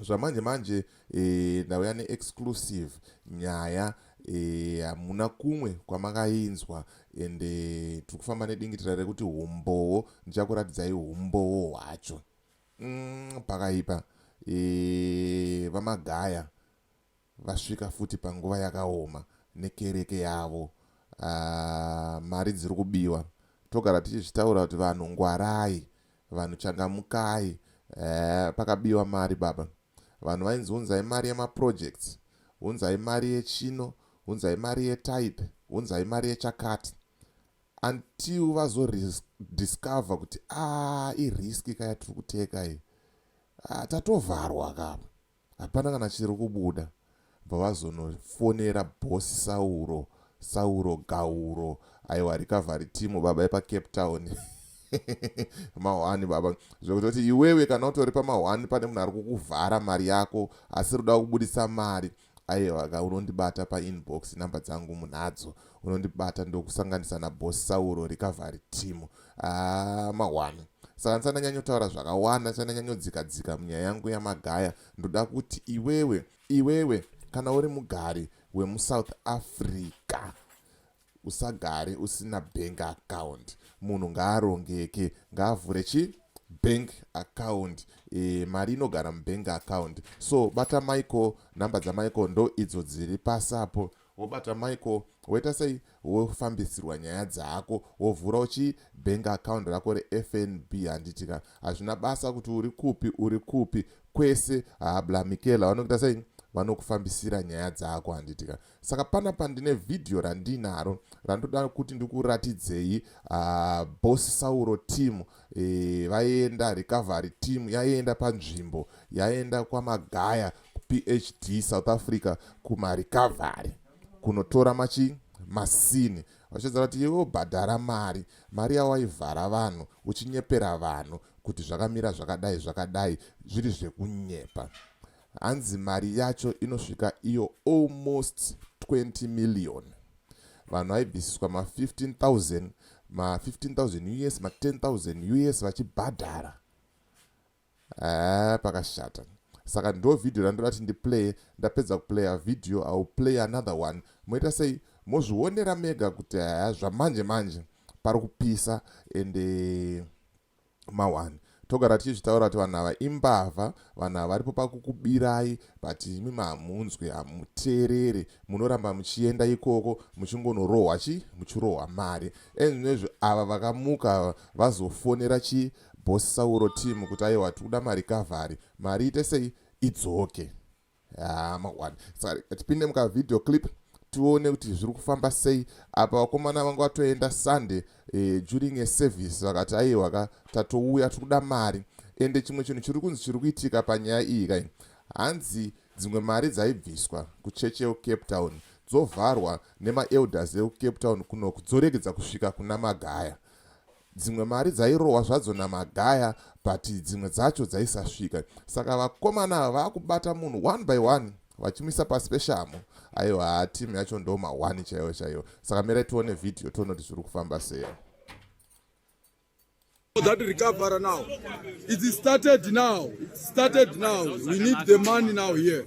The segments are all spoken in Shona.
zvamanje manje e, ndauya neexclusive nyaya e, hamuna e, kumwe kwamakainzwa ende eh, tiri kufamba nedingitira rekuti humbowo ndichakuratidzai humbowo hwacho mm, pakaipa e, vamagaya vasvika futi panguva yakaoma nekereke yavo uh, mari dziri kubiwa togara tichizvitaura kuti vanhu ngwarai vanhu changamukai uh, pakabiwa mari baba vanhu vainzi unzai mari yemaprojects unzai mari yechino unzai mari yetype unzai mari yechakati until vazodiscover kuti a ah, iriski ka yatiri kuteka iyi ah, tatovharwa kapa hapana kana chiri kubuda bva vazonofonera bosi sauro sauro gauro aiwa recovery team baba epacape town mahwani baba zvekutoti iwewe kana utori pamahwani pane munhu ari kukuvhara mari yako asi ruda kubudisa mari aiwa ka unondibata painbox number dzangu munadzo unondibata ndokusanganisa nabosi sauro recovery team haa mahwani saka ndisandanyanyotaura zvakawanda ndisandanyanyodzika dzika munyaya yangu yamagaya ndoda kuti iwewe iwewe kana uri mugari wemusouth africa usagare usina bank account munhu ngaarongeke ngaavhure chi bank account e, mari inogara mubank account so bata michael nhamba dzamichael ndo idzo dziri pasi apo wobata Michael woita sei wofambisirwa nyaya dzako wovhura uchi bank account rako reFNB handiti ka hazvina basa kuti uri kupi uri kupi kwese habla Michaela vanokuita sei vanokufambisira nyaya dzako handiti ka saka pana pandine vhidhiyo randinaro randoda kuti ndikuratidzei uh, boss sauro team e, vaienda recovery team yaienda panzvimbo yaienda kwamagaya kuphd south africa kumarecovery kunotora machi masini vachidza vati iwe ubhadhara mari mari yawaivhara vanhu uchinyepera vanhu kuti zvakamira zvakadai zvakadai zviri zvekunyepa hanzi mari yacho inosvika iyo almost 20 million vanhu vaibvisiswa ma15000 ma15000 us ma10000 us vachibhadhara haa pakashata saka ndo vhidhiyo randoda ti ndiplaye ndapedza kuplaya vhidhiyo iwill play another one moita sei mozvionera mega kuti haa zvamanje manje pari kupisa ende mawani togara tichizvitaura kuti vanhu ava imbavha vanhu ava varipo pakukubirai but imi mahamunzwi hamuteereri munoramba muchienda ikoko muchingonorohwa chi muchirohwa mari enezvi ava vakamuka vazofonera chi boss sauro team kuti aiwa tikuda mari kavhari mari ite sei idzoke Ah, mangwana saka tipinde mukavideo clip tione kuti zviri kufamba sei apa vakomana vanga vatoenda sunday eh, during a service vakati aiwa ka tatouya tiri kuda mari ende chimwe chinhu chiri kunzi chiri kuitika panyaya iyi kai hanzi dzimwe mari dzaibviswa kuchechi yekucape town dzovharwa nemaelders ekucape town kuno kudzoregedza kusvika kuna magaya Dzimwe mari dzairohwa zvadzo naMagaya but dzimwe dzacho dzaisasvika. Saka vakomana ava vakubata munhu one by one vachimuisa pasi peshamhu. Aiwa haa team yacho ndo mahwani chaiwo chaiwo. Saka mirai tione video tione kuti zviri kufamba sei. That recover now. It started now. It started now. We need the money now here.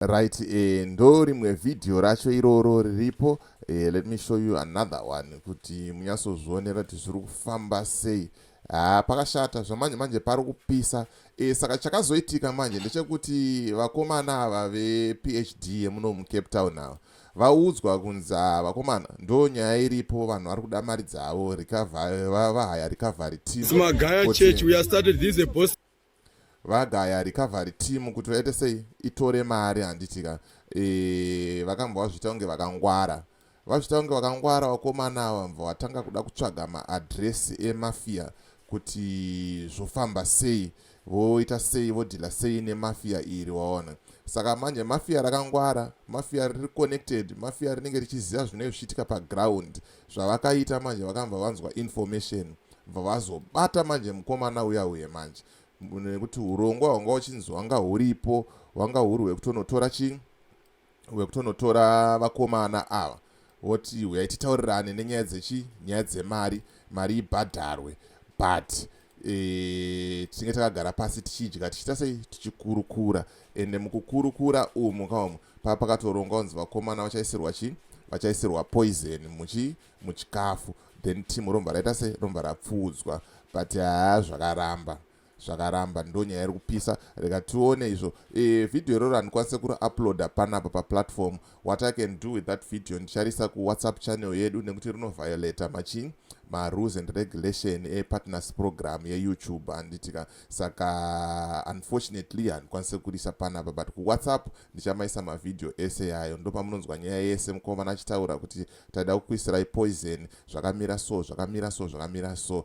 right eh, ndo rimwe vhidhiyo racho iroro riripo eh, let me show you another one kuti munyatsozvionera kuti zviri kufamba sei haa ah, pakashata zvamanje manje pari kupisa eh, saka chakazoitika manje ndechekuti vakomana ava vephd yemuno mucape town ava Vaudzwa kunzi haa vakomana ndoo nyaya iripo vanhu vari kuda mari dzavo vahaya recovery teamvagaya recovery team kuti vaite sei itore mari handitika eh, vakambwa vazviita kunge vakangwara vazviita kunge vakangwara vakomana ava mva vatanga kuda kutsvaga maadresi emafia kuti zvofamba sei Voita sei vodhila sei nemafia iri waona. Saka manje mafia rakangwara, mafia riri connected, mafia rinenge richiziva zvinenge zvichiitika paground. Zvavakaita manje vakambva vanzwa information bva vazobata manje mukomana uya uye manje nekuti urongwa hwanga uchinzi hwanga huripo hwanga huri hwekutonotora chii wekutonotora vakomana ava voti huyai titaurirane nenyaya dzechi nyaya dzemari mari ibhadharwe but e, tinge takagara pasi tichidya tichiita sei tichikurukura ende mukukurukura umu kaumu paa pakatorongwa kunzi vakomana vachaisirwa chii vachaisirwa poison muchi muchikafu then team romva raita se romva rapfuudzwa but haa zvakaramba zvakaramba ndonyaya iri kupisa rega tione izvo e, video iroro handikwanise kuri uploada panapa paplatform what i can do with that video ndicharisa kuwhatsapp channel yedu nekuti rinoviolata machin marules and regulation epartners program yeyoutube handitika saka unfortunately handikwanise kurisa panapa but kuwhatsapp ndichamaisa mavhidhiyo ese yayo ndopamunonzwa nyaya yese mukomana achitaura kuti taida kukuisirai poison zvakamira so zvakamira so zvakamira so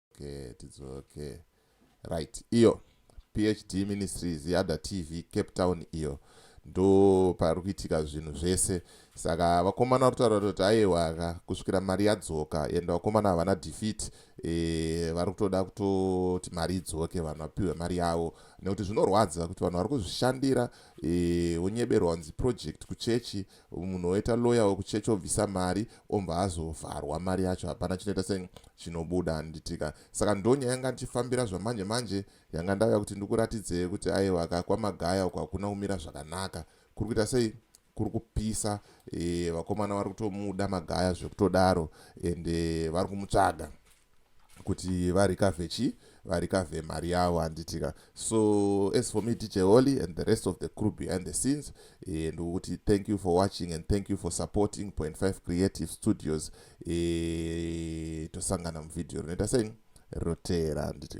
okay tidzoke right iyo phd ministries yada tv cape town iyo ndo pari kuitika zvinhu zvese saka vakomana vari kutaura kuti aiwaka kusvikira mari yadzoka and vakomana havana defeat e, vari kutoda kutoti mari idzoke vanhu vapiwe mari yavo nekuti zvinorwadza kuti vanhu vari kuzvishandira e, vonyeberwa kunzi project kuchechi munhu oita lawyer wekuchechi obvisa mari ombva azovharwa mari yacho hapana chinoita se chinobuda handitika saka ndo nyaya yanga ndichifambira zvamanje manje yanga ndauya kuti ndikuratidzei kuti aiwa ka kwamagaya uko hakuna kumira zvakanaka kuri kuita sei kuri kupisa e, vakomana vari kutomuda magaya zvekutodaro ende vari kumutsvaga kuti varikavhe chii varikavhe mari yavo handitika so as for me dj holy and the rest of the crew behind the scenes eh, ndikuti thank you for watching and thank you for supporting point five creative studios eh, tosangana muvhidhiyo rinoita sei roteera handiti